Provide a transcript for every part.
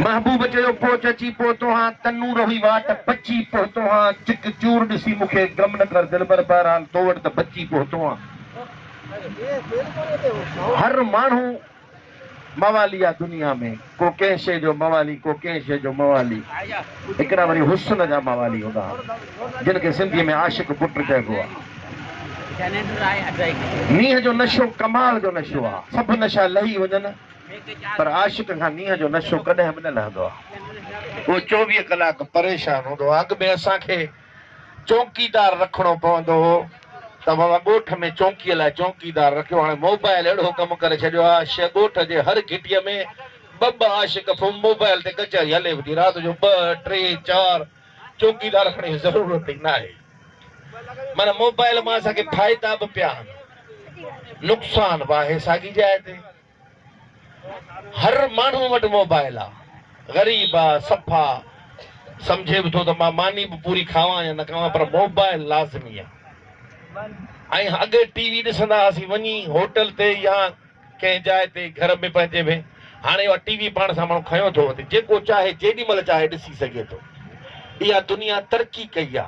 محبوب چيو پوچ اچي پهتو هان تنور هئي واٽ بچي پهتو هان چڪ چور ڏسي مون کي غم نه ڪر دلبر بهرحال تو وٽ ته بچي پهتو هان هر ماڻهو موالي آ دنيا ۾ ڪو ڪنهن شي جو موالي ڪو ڪنهن شي جو موالي هڪڙا وري حسن جا موالي هوندا ها، جن کي سنڌيء ۾ عاشق پٽ چئبو آ. نينهن جو نشو ڪمال جو نشو آ. سڀ نشا لهي وڃن، پر عاشق کان نينهن جو نشو ڪڏهن به نه لهندو آ. هو چوويهه ڪلاڪ پريشان هوندو آ. اڳ ۾ اسان کي چونڪيدار رکڻو پوندو هو، ته بابا ڳوٺ ۾ چونڪيء لاء چونڪيدار رکيو. هاڻي موبائل اهڙو ڪم ڪري ڇڏيو آ، شيء ڳوٺ جي هر گهٽيء ۾ ٻه ٻه عاشق فون موبائل تي ڪچهري هلي ويندي رات جو ٻه ٽي چار چوڪيدار کڻي جي ضرورت ئي ناهي معنيٰ موبائل مان اسان کي فائدا به پيا آهن نقصان به آهي ساڳي جاء تي هر ماڻهو وٽ موبائل آ غريب آ صفا سمجهي به ٿو ته مان ماني به پوري کاوان يا نه کاوان پر موبائل لازمي آ ۽ اڳي ٽي وي ڏسندا هئاسين وڃي هوٽل تي يا ڪنهن جاء تي گهر ۾ پنهنجي ۾ هاڻي اها ٽي وي پاڻ سان ماڻهو کنيو ٿو وڃي جيڪو چاهي جيڏي مهل چاهي ڏسي سگهي ٿو اها دنيا ترقي ڪئي آ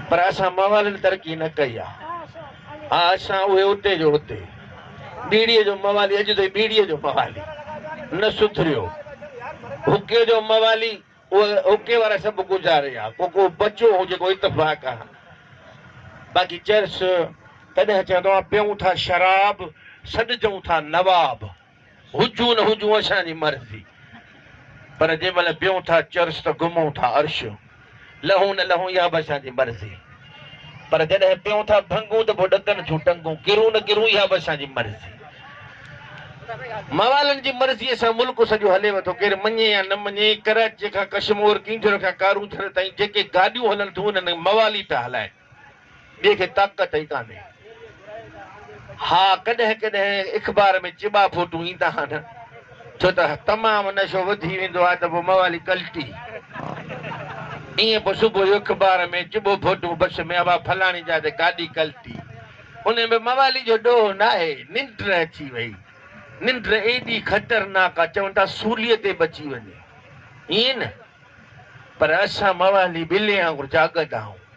پر اسان موالين ترقي نه ڪئي آ ها اسان اهي اتي جو اتي ٻيڙي جو موالي اڄ تائين ٻيڙي جو موالي نه سڌريو هڪي جو موالي اهي اوڪي وارا سڀ گذاري ويا، پوء ڪو بچو هو جيڪو اتفاق آهي. باقي چرس تڏهن چوندو آهي، پيئون ٿا شراب، سڏجون ٿا نواب، هجون نه هجون اسان جي مرضي، پر جنهن مهل پيئون ٿا چرس ته گهمون ٿا عرش، لهون نه لهون اها به اسان جي مرضي. پر جڏهن پيئون ٿا ڀنگون ته پوء ڏڪن ٿيون ٽنگون، ڪرون نه ڪرون اها به اسان جي مرضي. موالن جي مرضيء سان ملڪ سڄو هليو ٿو، ڪير مڃي يا نه مڃي، ڪراچيء کان ڪشمور، ڪينجهر کان ڪارون ٿر تائين جيڪي گاڏيون هلن ٿيون انهن موال ئي ٿا هلائين، ٻئي کي طاقت ئي ڪانهي. ها ڪڏهن ڪڏهن اخبار ۾ چٻا فوٽو ايندا ها نه ڇو ته تمام نشو وڌي ويندو آهي ته پوء موالي ڪلٽي ايئن پوء صبح جو اخبار ۾ چٻو فوٽو بس ۾ ابا فلاڻي جا تي گاڏي ڪلٽي ان ۾ موالي جو ڏوهه ناهي ننڊ اچي وئي ننڊ ايڏي خطرناڪ آ چون ٿا سولي تي به اچي وڃي ايئن نه پر اسان موالي ٻلي وانگر جاڳندا آهون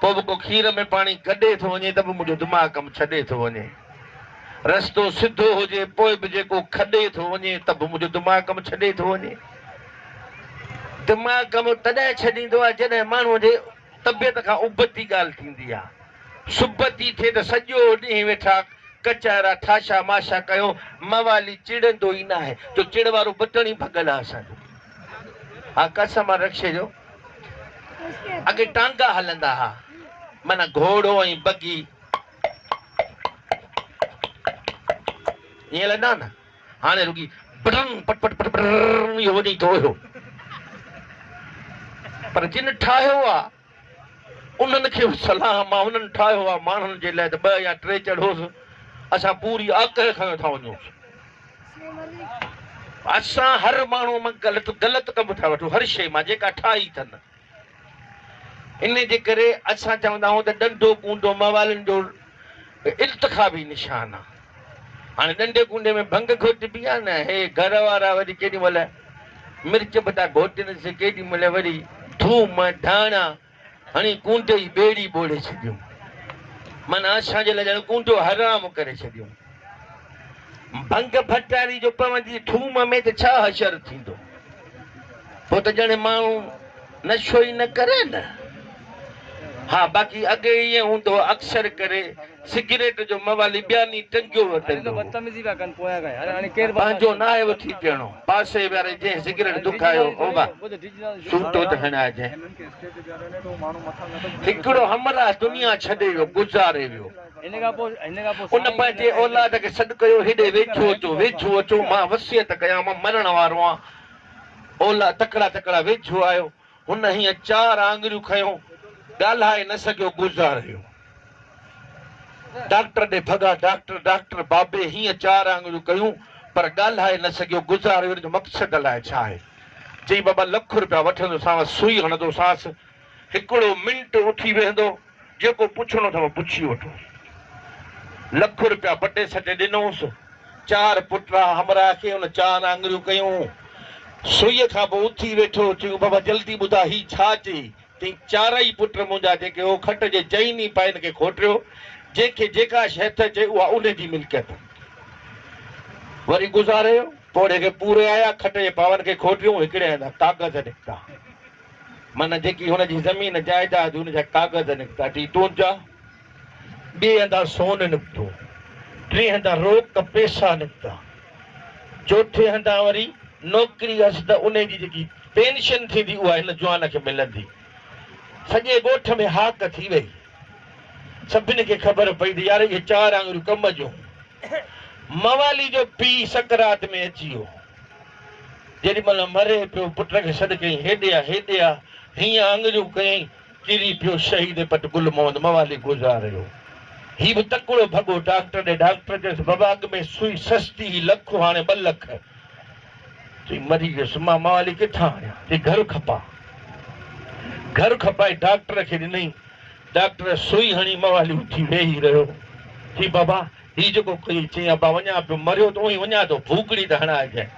پوء به ڪو کير ۾ پاڻي گڏي ٿو وڃي ته به منهنجو دماغ ڪم ڇڏي ٿو وڃي. رستو سڌو هجي پوء به جيڪو کڏي ٿو وڃي ته به منهنجو دماغ ڪم ڇڏي ٿو وڃي. دماغ ڪم تڏهن ڇڏيندو آهي جڏهن ماڻهوء جي طبيعت کان ابتي ڳالهه ٿيندي آهي. سبتي ٿئي ته سڄو ڏينهن ويٺا ڪچهرا ٺاشا ماشا ڪيو موالي چڙندو ئي ناهي جو چڙ وارو بٽڻ ئي ڀڳل آهي اسان جو. ها قسم آهي رڪشي جو. اڳي ٽانگا هلندا ها معنيٰ گهوڙو ۽ بگي ائين هلندا ها نه هاڻي رڳي برن پٽ پٽ پٽ برن اهو وڃي ٿو اهو پر جن ٺاهيو آ انهن کي به سلام آ انهن ٺاهيو آ ماڻهن جي لاء ته ٻه يا ٽي چڙهوس اسان پوري آڪهه کنيو ٿا وڃوس. اسان هر ماڻهو مان غلط غلط ڪم ٿا وٺون هر شيء مان جيڪا ٺاهي اٿن ان جي ڪري اسان چوندا آهيون ته ڏنڊو ڪونڊو موالن جو التخابي نشان آهي هاڻي ڏنڊي ڪونڊي ۾ ڀنگ گهوٽبي آهي نه هي گهر وارا وري ڪيڏي مهل مرچ بٽا گهوٽين سي ڪيڏي مهل وري ٿوم ڌاڻا هڻي ڪونٽي جي ٻيڙي ٻوڙي ڇڏيون. معنيٰ اسان جي لاء ڄڻ ڪونٽو حرام ڪري ڇڏيون. ڀنگ ڀٽاري جو پوندي ٿوم ۾ ته ڇا حشر ٿيندو؟ پوء ته ڄڻ ماڻهو نشو ئي نه ڪري نه. ها باقي اڳي ائين هوندو هو اڪثر ڪري سگريٽ جو موالي ٻياني ٽنگيو وتندو هو. پنهنجو ناهي وٺي پيئڻو. پاسي واري جنهن سگريٽ دکايو هو به سوٽو ته هڻائجي. هڪڙو همراهه دنيا ڇڏي ويو، گذاري ويو. ان پنهنجي اولاد کي سڏ ڪيو، هيڏي ويجهو اچو، ويجهو اچو، مان وصيت ڪيام، مرڻ وارو آهيان. اولاد تڪڙا تڪڙا ويجهو آيو. هن هيئن چار آڱريون کنيو، ڳالهائي نه سگهيو، گذار ويو. ڊاڪٽر ڏي ڀڳا، ڊاڪٽر، ڊاڪٽر، بابي هيئن چار آڱريون ڪيون، پر ڳالهائي نه سگهيو، گذار ويو، ان جو مقصد الائي ڇا آهي؟ چئي، بابا لک روپيا وٺندوسانس، سوئي هڻندوسانس، هڪڙو منٽ اٿي ويهندو، جيڪو پڇڻو اٿئو پڇي وٺو. لک روپيا پٽي سٽي ڏنوس. چار پٽڙا همراهه کي هن چار آڱريون ڪيون. سوئيء کان پوء اٿي ويٺو. چيو، بابا جلدي ٻڌاء هي ڇا چئي؟ چيائين، چارئي پٽ منهنجا جيڪي هو کٽ جي چئن ئي پائن کي کوٽيو. جنهن کي جيڪا شيء هٿ اچي اها ان جي ملڪيت. وري گذاريو. پوڙهي کي پوري آيا. کٽ جي پاون کي کوٽيون. هڪڙي هنڌان ڪاغذ نڪتا. معنيٰ جيڪي هن جي زمين جائيداد هن جا ڪاغذ نڪتا، ٽي تون جا، ٻئي هنڌان سون نڪتو، ٽئين هنڌان روڪ پئسا نڪتا، چوٿين هنڌان وري نوڪري هيس ته انهي جي جيڪي پينشن ٿيندي اها هن جوان کي ملندي. سڄي ڳوٺ ۾ هاڪ ٿي وئي. سڀني کي خبر پئي ته يار اهي چار آڱريون ڪم جون. موالي جو پيء سڪرات ۾ اچي ويو. جيڏي مھل مري پيو پٽ کي سڏ ڪيائين ھيڏي آ ھيڏي آ ھيئن آڱريون ڪيائين ڪري پيو شھيد پٽ گل محمد موالي گذار ھيو ھي به تڪڙو ڀڳو ڊاڪٽر ڏي ڊاڪٽر چيس بابا اڳ ۾ سوئي سستي ھي لک ھاڻي ٻه لک چي مري ويس مان موالي ڪٿان آڻيان چي گھر کپا گھر کپائي ڊاڪٽر کي ڏنئين ڊاڪٽر سوئي ھڻي موالي اٿي ويھي رھيو چي بابا هي جيڪو ڪيو چيائين ابا وڃان پيو، مريو ته اوهين وڃان ٿو، ڀوڪڙي ته هڻائجانء.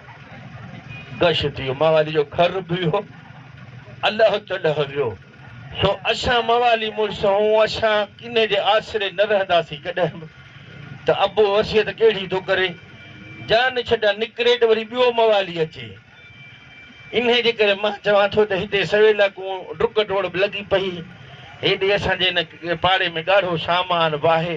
گش ٿي ويو. موالي جو گهر به ويو، الهه چلهه ويو. سو اسان موالي مڙس هئون، اسان ڪنهن جي آسري نه رهنداسين ڪڏهن به. ته ابو وصيت ڪهڙي ٿو ڪري، جان ڇڊان نڪري ته وري ٻيو موالي اچي. انهيء جي ڪري مان چوان ٿو ته هتي سويلا ڪون ڊڪ ڊوڙ به لڳي پئي. هيڏي اسان جي هن پاڙي ۾ ڳاڙهو سامان واهي.